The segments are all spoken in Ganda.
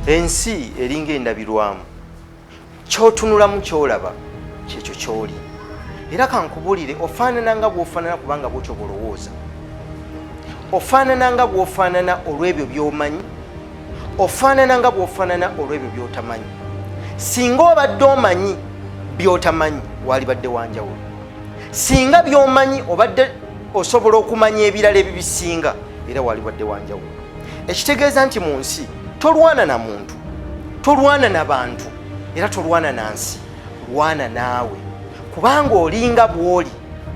ensi eringa endabirwamu kyotunulamu kyolaba kyekyo kyoli era kankubulire ofaanana nga bwofaanana kubanga bwotyo bwolowooza ofaanana nga bwofaanana olw'ebyo byomanyi ofaanana nga bw'ofaanana olw'ebyo by'otamanyi singa obadde omanyi by'otamanyi waalibadde wanjawulo singa by'omanyi obadde osobola okumanya ebirala ebibisinga era waalibadde wanjawulo ekitegeeza nti mu nsi tolwana na muntu tolwana na bantu era tolwana na nsi lwana naawe kubanga olinga bwoli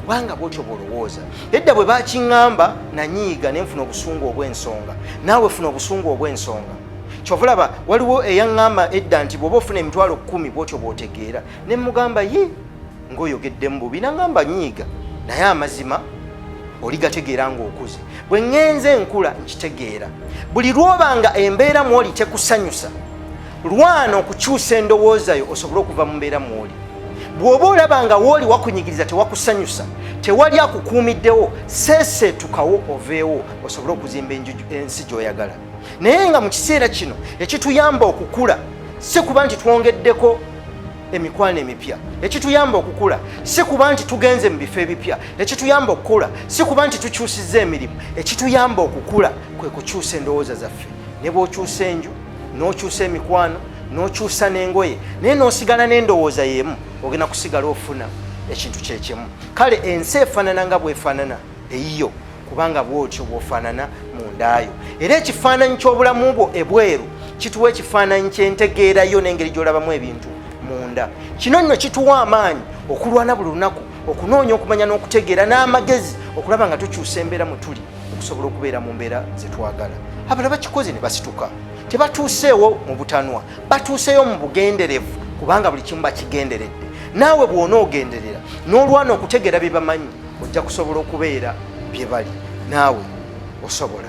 kubanga bwotyo bwolowooza edda bwe bakiŋŋamba nanyiiga ne nfuna obusungu obw'ensonga naawe funa obusungu obw'ensonga kyovulaba waliwo eyaŋŋamba edda nti bw'oba ofuna emitwalo kkumi bwotyo bw'otegeera ne mugamba ye ng'oyogeddemu bubi naŋŋamba nyiiga naye amazima oligategeera ng'okuze bwe ŋŋenze enkula nkitegeera buli lw'oba nga embeera mwoli tekusanyusa lwana okukyusa endowooza yo osobole okuva mu mbeera mwoli bw'oba olaba nga wooli wakunyigiriza tewakusanyusa tewali akukuumiddewo seeseetukawo oveewo osobole okuzimba ensi gy'oyagala naye nga mu kiseera kino ekituyamba okukula si kuba nti twongeddeko emikwano emipya ekituyamba okukula si kuba nti tugenze mu bifo ebipya ekituyamba okukula si kuba nti tukyusizza emirimu ekituyamba okukula kwe kukyusa endowooza zaffe ne bw'okyusa enju n'okyusa emikwano n'okyusa n'engoye naye n'osigala n'endowooza y'emu ogenda kusigala ofuna ekintu kyekimu kale ensi efaanana nga bwefaanana eyiyo kubanga bwotyo bwofaanana mu ndaayo era ekifaananyi ky'obulamu bwo ebweru kituwa ekifaananyi kyentegeerayo n'engeri gy'olabamu ebintu munda kino nno kituwa amaanyi okulwana buli lunaku okunoonya okumanya n'okutegeera n'amagezi okulaba nga tukyusa embeera mwe tuli okusobola okubeera mu mbeera zetwagala abala bakikoze ne basituka tebatuuseewo mu butanwa batuuseeyo mu bugenderevu kubanga buli kimu bakigenderedde naawe bw'onoogenderera n'olwana okutegeera bye bamanyi ojja kusobola okubeera bye bali naawe osobola